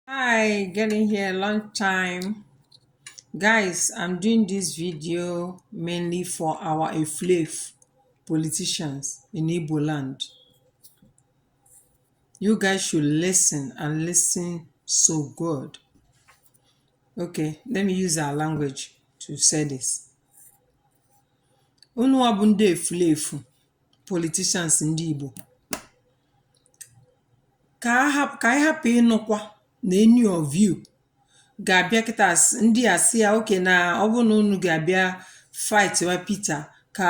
hi getting here long time guys i'm doing this video mainly for our aflave politicians in igbo land you guys should listen and listen so good okay let me use our language to say this unu bụ ndị efulefu politicians ndị igbo Ka a hap ka anyị hapụ ịnụkwa na any of you ga-abịa kịta s ndị a sị ya okay na ọ bụrụ na unu ga-abịa fightwa Peter ka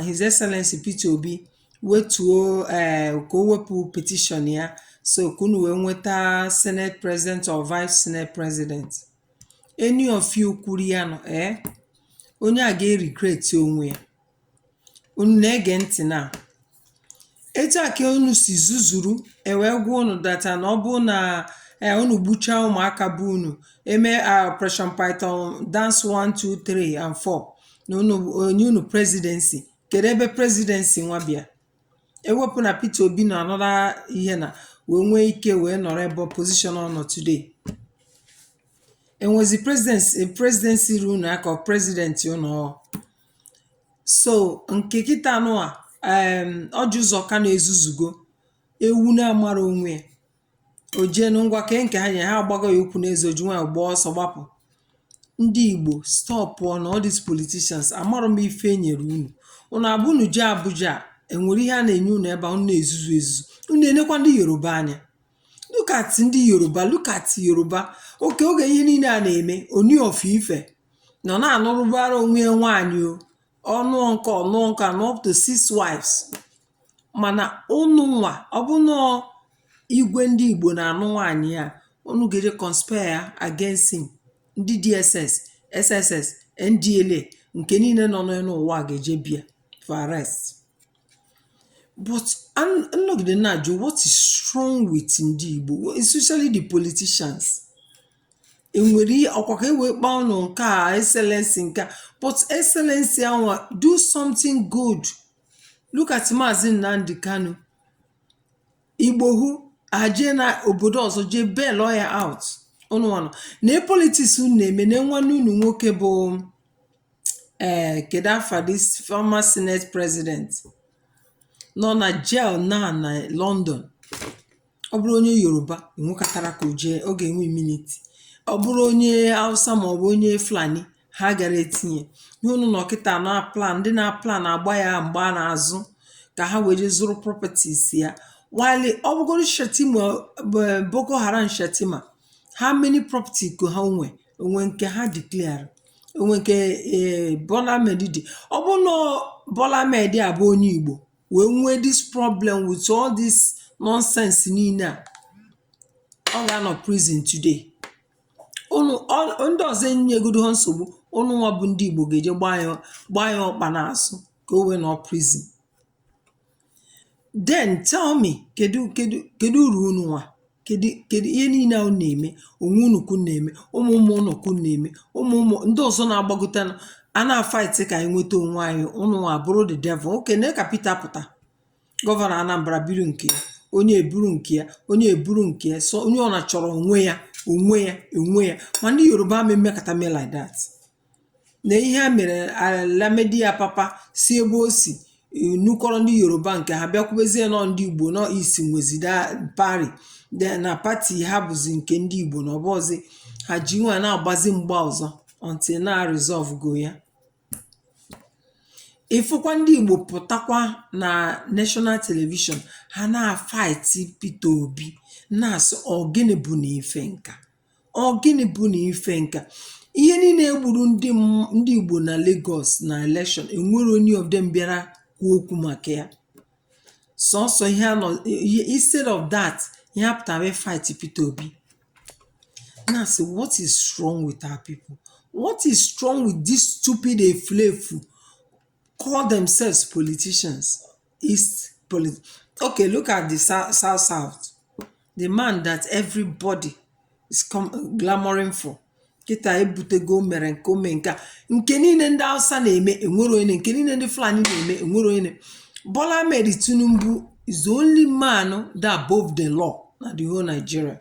His Excellency Peter Obi wetuo ee ka o wepụ petition ya so ka unu wee nweta Senate President or Vice Senate President. Any of you kwuru ya nụ ee onye a ga-eregret onwe ya. Unu na-ege ntị na etu a ka unu si zuzuru ewee gwa unu that na ọ bụrụ na ee unu gbuchaa ụmụaka bụ unu eme operation python dance 1 2 3 and 4 na enye unu presidency kedu ebe presidency nwa bịa ewepụ na Peter Obi na anọla ihe na wee nwee ike wee nọrọ ebe position ọ nọ today enwezi presidency ru unu aka ọ president unu ọ So nke kịta nwa em Orji Uzor Kalu ezuzugo ewu na-amara onwe ya o jee na ngwa kee nke ha nyere ha agbago ya ụkwụ n'eze o ji nwayọ gbaa ọsọ gbapụ ndị Igbo stopụọ na all these politicians amarọ m ife e nyere unu unu abụ unu jee Abuja a, enwere ihe a na-enye unu ebe a unu na-ezuzu ezuzu unu enekwa ndị Yoruba anya look at ndị Yoruba look at Yoruba okay oge ihe niile a na-eme Ooni of Ife nọ na-anụrụbara onwe ya nwaanyị o ọ nụọ nke a ọ nụọ nke a nụọ up to six wives mana unu nwa ọ bụ nọọ igwe ndị Igbo na-anụ nwaanyị a unu ga-eje conspire against him ndị DSS SSS NDLA nke niile nọ n'elu ụwa ga-eje bịa for arrest but an- nnọgide na-ajụ what is wrong with ndị Igbo especially the politicians E nwere ọkwa ka e wee kpọọ ụnụ nke a excellency nke a but excellency anwa do something good look at Maazị Nnamdi Kanu Igboho a jee na obodo ọzọ jee bail ya out ụnụ nwa nọ na politics unu na-eme na nwanne unu nwoke bụ ee kedu afa this former senate president nọ na jail na na London ọ bụrụ onye Yoruba enwekatara ka o jee ọ ga-enwe immunity ọ bụrụ onye Hausa maọbụ onye Fulani ha gara etinye ihe unu nọ kịta na-aplan ndị na-aplan agba ya mgba n'azụ ka ha wee jee zụrụ properties ya while ọ bụgoro Shettima eh, Boko Haram Shettima how many property ka ha nwe o nwe nke ha declare o nwe nke eh, Bola Ahmed dị ọ bụ na Bola Ahmed a bụ onye Igbo wee nwee this problem with all this nonsense niile à ọ gà-anọ̀ prison today unù ọ ọ ndị ọ̀zọ enyegodu ha nsògbu unù nwa bụ ndị ìgbò gà-èje gbaa ya gbaa ya ọkpà n'àzụ kà o wee nọ̀ọ prison then tell me kèdu kèdu kèdu urù unù nwà kèdụ kèdụ ihe niine à unu nà-ème ònwe unù kà unu nà-ème ụmụ̀ ụmụ̀ unù kà unu nà-ème ụmụ̀ ụmụ̀ ndị ọ̀zọ na-agbakọta ọnụ à na-fight kà ànyị nwete ònwe anyị unù nwa àbụrụ the devil okay nee kà Peter pụ̀ta governor Anambra buru ǹkè ya onye è buru ǹkè ya onye è buru ǹkè ya so onye ọwụnà chọ̀rọ̀ ònwe yā ònwe yā ònwe yā mà ndị Yoruba amā emēkàta mee like that Nee ihe a mere Lamidi Apapa si ebe o si nukọrọ ndị Yoruba nke ha bịa kwubezie na ọ ndị Igbo nọ East nwezi that party de na party ha bụzi nke ndị Igbo na ọ bụzi ha ji nwa na-agbazi mgba ọzọ until na resolve go ya ịfụkwa ndị Igbo pụtakwa na national television ha na-afaiti Peter Obi na-asị ọ gịnị bụ na ife nka Ọ gịnị bụ na ife nke a? Ihe niile e gburu ndị m- ndị Igbo na Lagos na election enwere any of them bịara kwuo okwu maka ya. Sọsọ ihe ha nọ ihe- instead of that ihe ha pụtara wee fight Peter Obi. Na-asị what is wrong with our people? What is wrong with this stupid efulefu call themselves politicians? East police okay look at the south south south the man that everybody is come clamoring for kịta ebutego o mere nke o mee nke a nke niile ndị Hausa na-eme enwere onye nke niile ndị Fulani na-eme enwere onye na- Bola Ahmed Tinubu is the only man that above the law na the whole Nigeria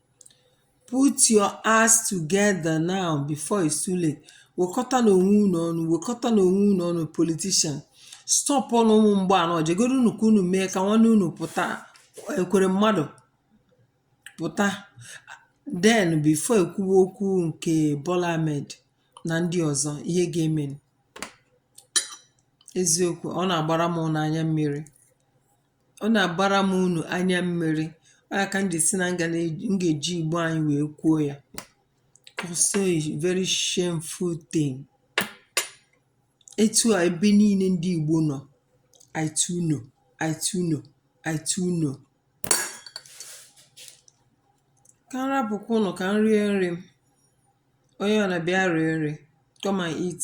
Put your ass together now before it's too late. Wekọtanụ onwe unu ọnụ, wekọtanụ onwe unu ọnụ politician. Stop ọnụ ụmụ mgbe anọ, jegodo unu ka unu mee ka nwanne unu pụta Ekweremadu pụta. Then before ekwuwe okwu nke Bola Ahmed na ndị ọzọ ihe ga-eme. Eziokwu ọ na-agbara m unu anya mmiri. ọ nà-àgbara m unù anya mmiri ọ yà kà m jì sị nà m gà na-èji m gà-èji ìgbo anyị wèe kwuo ya cause it's very shameful thing etu à ebe niine ndị ìgbo nọ̀ i too know i too know i too know kà m rapụkwa unu kà m rie nri m onye ọwụnà bịa rie nri come and eat